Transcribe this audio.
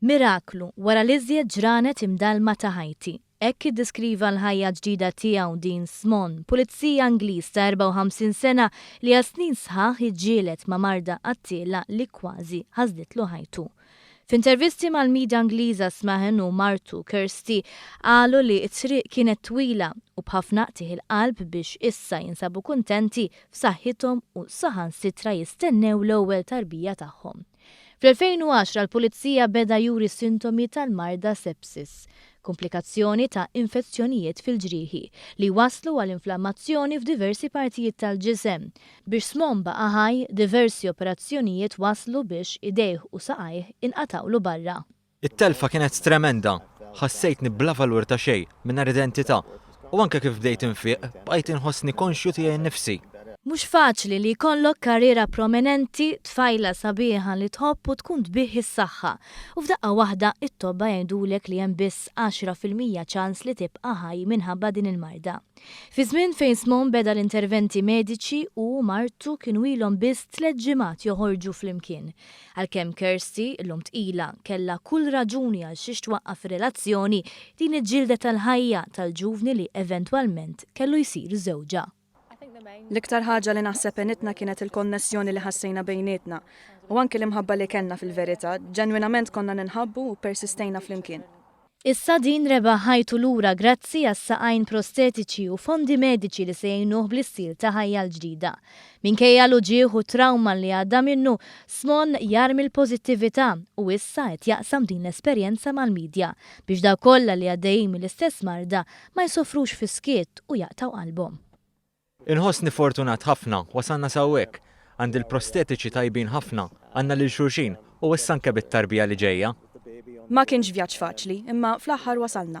Miraklu, wara l-iżjed ġranet imdallma ta' ħajti. Hekk iddeskriva l-ħajja ġdida tiegħu Dean Smon, pulizija Ingliż ta' 54 sena li għal snin sħaħ iġġieled ma' marda qattiela li kważi ħasditlu ħajtu. F'intervisti mal-media Ingliża Smahen u martu Kirsty qalu li t-triq kienet twila u b'ħafna qtigħ il-qalb biex issa jinsabu kuntenti, f'saħħithom u saħansitra jistennew l-ewwel tarbija tagħhom. Fl-2010 l-Pulizija beda juri sintomi tal-marda sepsis, kumplikazzjoni ta' infezzjonijiet fil-ġrieħi li jwasslu għal inflammazzjoni f'diversi partijiet tal-ġisem, Biex Smom baqa' ħaj, diversi operazzjonijiet wasslu biex idejh u saqajh inqatgħulu barra. It-telfa kienet tremenda. Ħassejtni bla valur ta' xejn, mingħajr identità, u anke kif bdejt infieq, bqajt inħossni konxju tiegħi nnifsi. Mhux faċli li jkollok karriera prominenti, tfajla sabiħa li tħobb u tkun tbigħ is-saħħa, u f'daqqa waħda t-tobba jgħidulek li hemm biss għaxra fil-mija ċans li tibqa' ħaj minħabba din il-marda. Fi żmien fejn Smone beda l-interventi mediċi, hu u martu kienu ilhom biss tliet ġimgħat joħorġu flimkien. Għalkemm Kirsty, illum tqila, kellha kull raġuni għalxiex twaqqaf ir-relazzjoni, din hi ġildet tal-ħajja tal-ġuvni li eventwalment kellu jsir żewġha. L-iktar ħaġa li naħseb għenitna kienet il-konnessjoni li ħassejna bejnietna, u anki l-imħabba li kellna fil-verità, ġenwinament konna ninħabbu u ppersistejna flimkien. Issa din rebaħ ħajtu lura grazzi għas-saqajn prostetiċi u fondi mediċi li se jgħinuh bl-istil ta' ħajja l-ġdida. Minkejja l-uġigħ u t-trawma li għadda minnu, Smon jarmi l-pożittività u issa qed jaqsam din l-esperjenza mal-midja biex dawk kollha li għaddejjin mill-istess marda ma jsofrux fis-skiet u jaqtgħu qalbhom. Inħossni fortunat ħafna, wasalna s'hawnhekk. Għandi l-prostetiċi tajbin ħafna, għandna lil xulxin, u issa anke bit-tarbija li ġejja. Ma kienx vjaġġ faċli, imma fl-aħħar wasalna.